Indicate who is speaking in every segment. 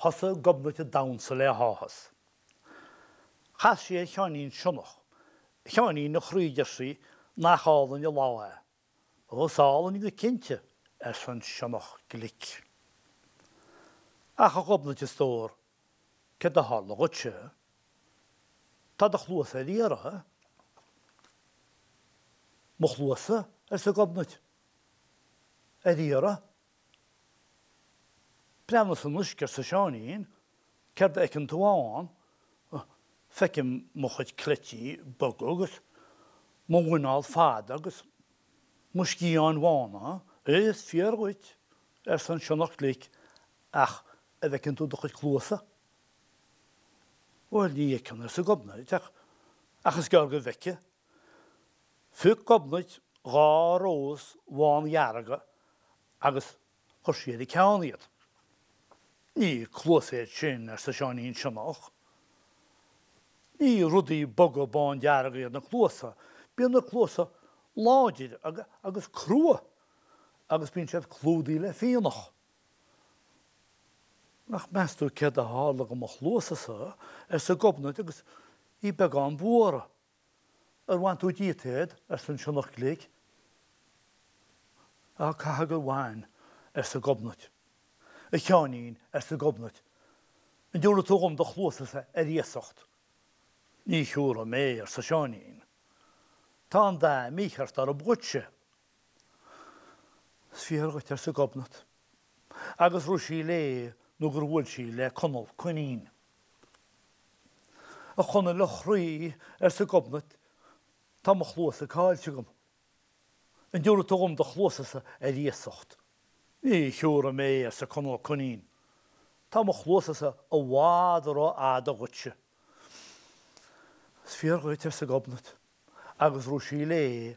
Speaker 1: Thosaigh Gobnait ag damhsa le háthas. Chas sí ar Sheáinín Sionnach. 'A Sheáinín, a chroí, deir sí, 'nach álainn an lá é? 'Ó, is álainn go cinnte, arsa an sionnach glic. 'Ach, a Ghobnait, a stór, céard a tharla dhuitse? Tá do chluasa ar iarraidh. 'Mo chluasa? arsa Gobnait. 'Ar iarraidh? Breathnaigh san uisce, arsa Seáinín. Céard a fheiceann tú ann? Feicim mo chuid cleití boga agus mo mhuineál fada agus mo sciatháin bhána. Is fíor dhuit, arsa an sionnach glic, ach a bhfeiceann tú do chuid cluasa? Bhuel, ní fheiceann, arsa Gobnait, ach is gearr go bhfeicfidh. Phioc Gobnait dhá rós bhán-dhearga agus chuir sí ar a ceann iad. Ní cluasa iad sin, arsa Seáinín Sionnach. Ní rudaí boga bán-dearga iad na cluasa. Bíonn na cluasa láidir agus crua agus bíonn siad clúdaithe le fionnach. Ach meas tú céard a tharla do mo chluasa-sa, arsa Gobnait agus í beagán buartha. Ar bhain tú díot iad? arsa an sionnach glic. Á, caithfidh gur bhain, arsa Gobnait. A Sheáinín, arsa Gobnait, an dtiúrfaidh tú dhom do chluasa-sa ar iasacht? Ní thiúrfaidh mé, arsa Seáinín. Tá an dath mícheart orthu dhuitse. Is fíor dhuit, arsa Gobnait, agus rith sí léi nó gur bhuail sí le Conall Coinín. A Chonaill a chroí, arsa Gobnait, tá mo chluasa caillte agam. An dtiúrfaidh tú dhom do chluasasa ar iasacht? Ní thiúrfaidh mé, arsa Conall Coinín, tá mo chluasasa i bhfad rófhada dhuitse. Is fíor dhuit, arsa Gobnait, agus rith sí léi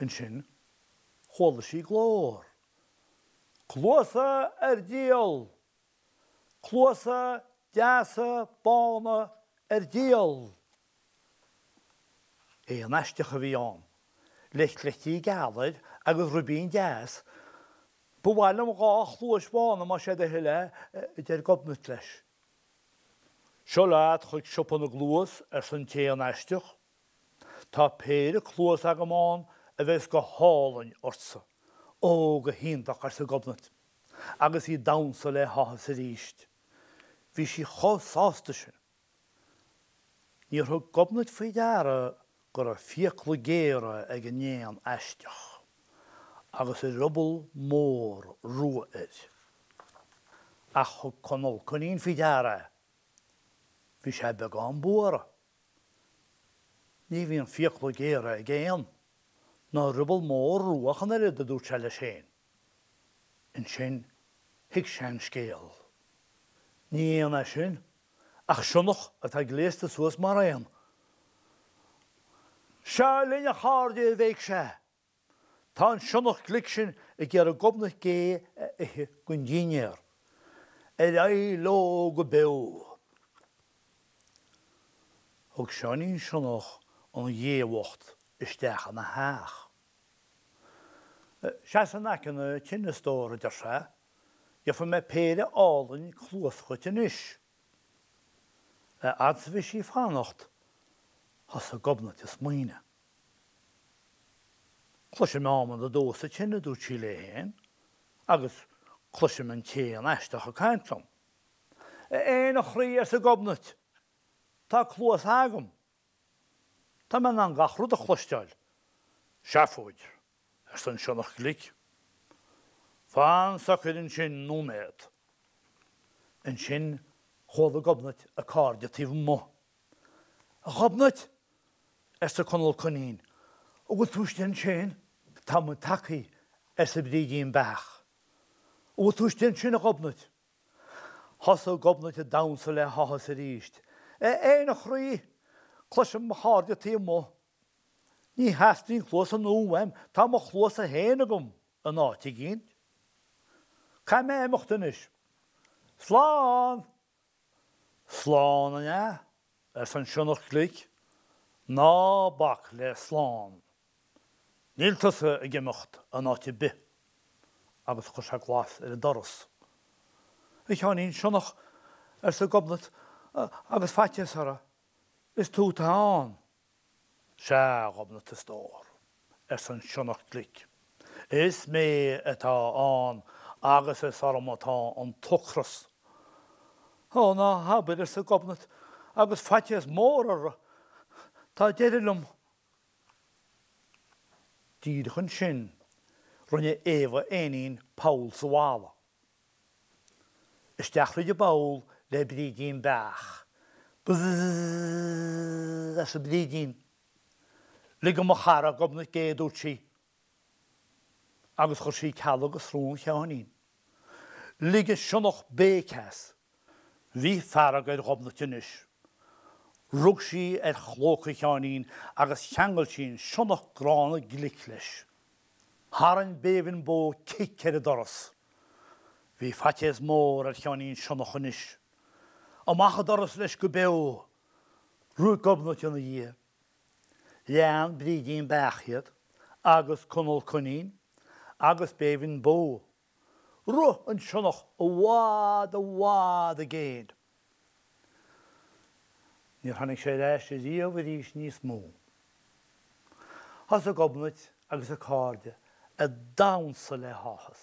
Speaker 1: Ansin chuala sí glór. Cluasa ar díol! Cluasa deasa bána ar díol! Éan aisteach a bhí ann le cleití geala air agus ribín deas, ba mhaith liom dhá chluais bhána más é do thoil é, a deir Gobnait leis. Seo leat chuig siopa na gcluas, arsa an t-éan aisteach. Tá péire cluas agam a bheas go hálainn ortsa. Ó, go hiontach, arsa Gobnait, agus í damhsa le háthas arís. Bhí sí chomh sásta sin. Níor thug Gobnait faoi deara go raibh fiacla géara ag an éan aisteach, agus ruball mór rua air. Ach thug Conal Coinín faoi deara é. Bhí sé beagán buartha. Ní bhíonn fiacla géara ag éan ná ruball mór rua ach an oiread, a dúirt sé leis féin. Ansin thuig sé an scéal. Ní éan é sin, ach sionnach atá gléasta suas mar éan. Seo linn, a chairde, a bhéic sé, Tá an sionnach glic sin ag iarraidh Gobnait Gé a ithe don dinnéar. Ar aghaidh leo go beo. Thug Seáinín Sionnach an Ghé bhocht isteach ina theach. Seas in aice na tine, a stór, a deir sé. Gheobhaidh mé péire álainn cluas chugat anois. Fhad is a bhí sí ag fanacht thosaigh Gobnait ag smaoineamh. Cloisim adhmad ag dó sa tine, a dúirt sí léi féin, agus cloisim an t-éan aisteach ag caint liom. A Éin, a chroí, arsa Gobnait, tá cluasa agam. Tá mé in ann gach rud a chloisteáil. Seafóid, arsa an sionnach glic. Fan socair ansin nóiméad. Ansin chuala Gobnait a cairde taobh amuigh. A Ghobnait, arsa Conal Coinín. An bhfuil tú istigh ansin? Tá muid tagtha, arsa Brídín Beach. An bhfuil tú istigh ansin, a Ghobnait? Thosaigh Gobnait ag damhsa le háthas arís. A Éin, a chroí, cloisim mo chairde taobh amuigh. Ní theastaíonn cluasa nua uaim, tá mo chluasa féin agam in áit éicint. Caithfidh mé imeacht anois. Slán! Slán an ea? arsa an sionnach glic. Ná bac le slán. Níl tusa ag imeacht in áit ar bith. Agus chuir sé glas ar an doras. A Sheáinín Sionnach, arsa Gobnait, agus faitíos uirthi, is tú atá ann. Sea a Ghobnait a stór, arsa an sionnach glic, is mé atá ann agus is orm atá an t-ocras. Ó, ná habair, arsa Gobnait agus faitíos mór uirthi, tá deireadh liom. Díreach ansin rinne Éabha Éinín poll sa bhalla. Isteach fríd an bpoll le Brídín Beach. Bzzzzzzzzzzzzz arsa Brídín. Lig do mo chara Gobnait a dúirt sí. Agus chuir sí cealg go srón Sheáinín. Lig an sionnach béic as. Bhí fearg ar Ghobnait anois. Rug sí ar chlóca Sheáinín agus cheangail sí an sionnach gránna glic leis. Tharraing Béibhinn Bó cic ar an doras. Bhí faitéas mór ar Sheáinín Sionnach anois. Amach an doras leis go beo! Rith Gobnait ina dhiaidh. Lean Brídín Beach iad, agus Conal Coinín, agus Béibhinn Bó. Rith an sionnach i bhfad i bhfad i gcéin. Níor tháinig sé ar ais ariamh arís níos mó. Thosaigh Gobnait agus a cairde ag damhnsa le háthas.